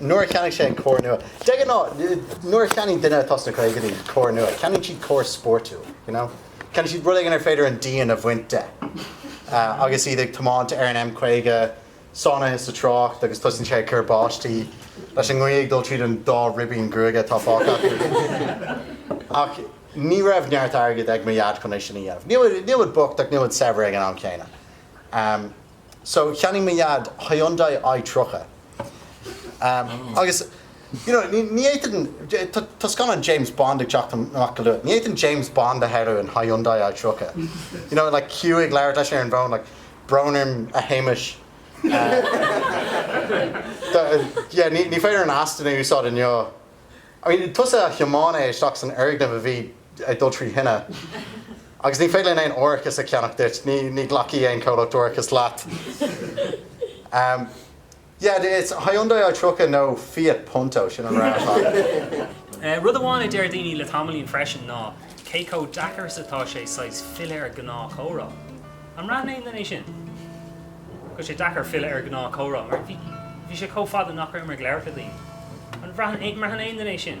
nuair a cheannaigh sé an carr nua. De ghnáth, nuair a cheannaíonn duine atá sna caogaidí carr nua, ceannaíonn siad carr spórtúil, you know? Ceannaíonn siad rud éigin ar féidir an díon a bhaint de. Agus iad ag tiomáint ar an M50, sáinnithe sa trácht, agus tosaíonn sé ag cur báistí, leis an ngaoth ag dul tríd an dá ribín gruaige atá fágtha acu. Ach ní raibh neart airgid ag mo dhaid chun é sin a dhéanamh. Níl muid bocht, ach níl muid saibhir ag an am céanna. So, cheannaigh mo Dhaid Hyundai I-30. Agus, you know, ní fhéadfainn, tá scannán James Bond ag teacht amach go luath, ní fhéadfainn James Bond a shamhlú in Hyundai I-30. You know, like, Q ag labhairt leis ar an bhfón, like, Brón orm, a Shéamais. Yeah, ní féidir an Aston a úsáid inniu. I mean, tusa a thiomáin é isteach san fhoirgneamh a bhí ag dul trí thine. Agus ní féidir linn aon árachas a cheannach duit, ní ghlacfaidh aon chomhlacht árachais leat. Yeah, it's Hyundai I 30 nó Fiat Punto, sin an rogha atá agat. Rud amháin a deir daoine le tamaillín freisin ná cé chomh deacair is atá sé saghas filleadh ar ghnáthchomhrá. An mbraitheann aon duine sin? Go bhfuil sé deacair filleadh ar ghnáthchomhrá mar bhí sé chomh fada nach rabhamar ag labhairt le daoine. An mbraitheann aon duine é sin?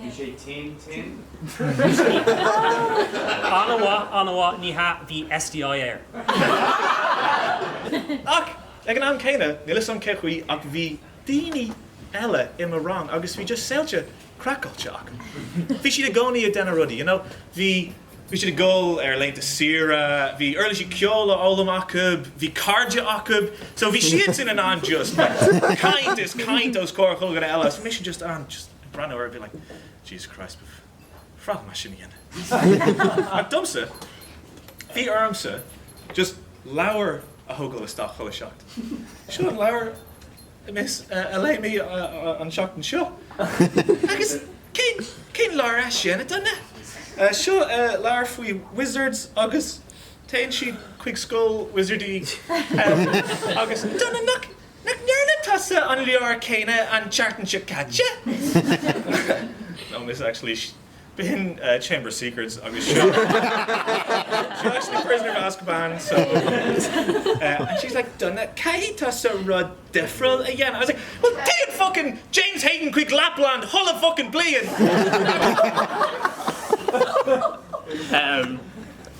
Bhí sé tinn, tinn? An-mhaith, an-mhaith, ní hea, bhí STI air. Ach ag an am céanna, níl 'fhios a'm cé chaoi ach bhí daoine eile i mo rang agus bhí just saolta craiceáilte acu. Bhí siad i gcónaí ag déanamh rudaí, you know, bhí, bhí siad ag dul ar laethanta saoire, bhí uirlisí ceoil á fhoghlaim acu, bhí cairde acu, so bhí siadsan in ann just caint is caint os comhair chuile dhuine eile agus bhí mise just in ann just. breathnú orthu a bheith like Jesus Christ ba bhreá liom é sin a dhéanamh ach domsa bhí ormsa just leabhar a thógáil isteach chuile seachtain. Seo an leabhar miss uh, a léigh mé uh, uh, an seachtain seo agus cén leabhar é sin a Donna seo leabhar faoi wizards agus téann siad chuig scoil wizardí agus Donna nach Nach ndearna tusa an leabhar céanna an tseachtain seo caite? No, miss, actually, b'shin Chamber of Secrets agus seo seo actually Prisoner of Azkaban, so. And she's like, Donna, caithfidh tusa rud difriúil a dhéanamh. I was like, Well, téann fucking James Hayden chuig Lapland chuile fucking bliain!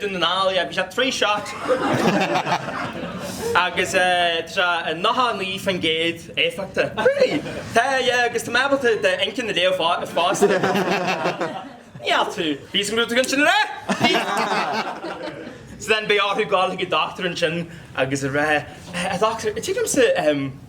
Dún na nGall, yeah, bhí sé trí shot agus tá sé 99% éifeachtach. Really? Tá, yeah, agus tá mé ábalta d'inchinn a léamh fosta. Níl tú. Bhí 'fhios a'm go raibh tú chun sin a rá! So then beidh orthu gabháil chuig an doctor ansin agus a rá, A doctor, tuigimse,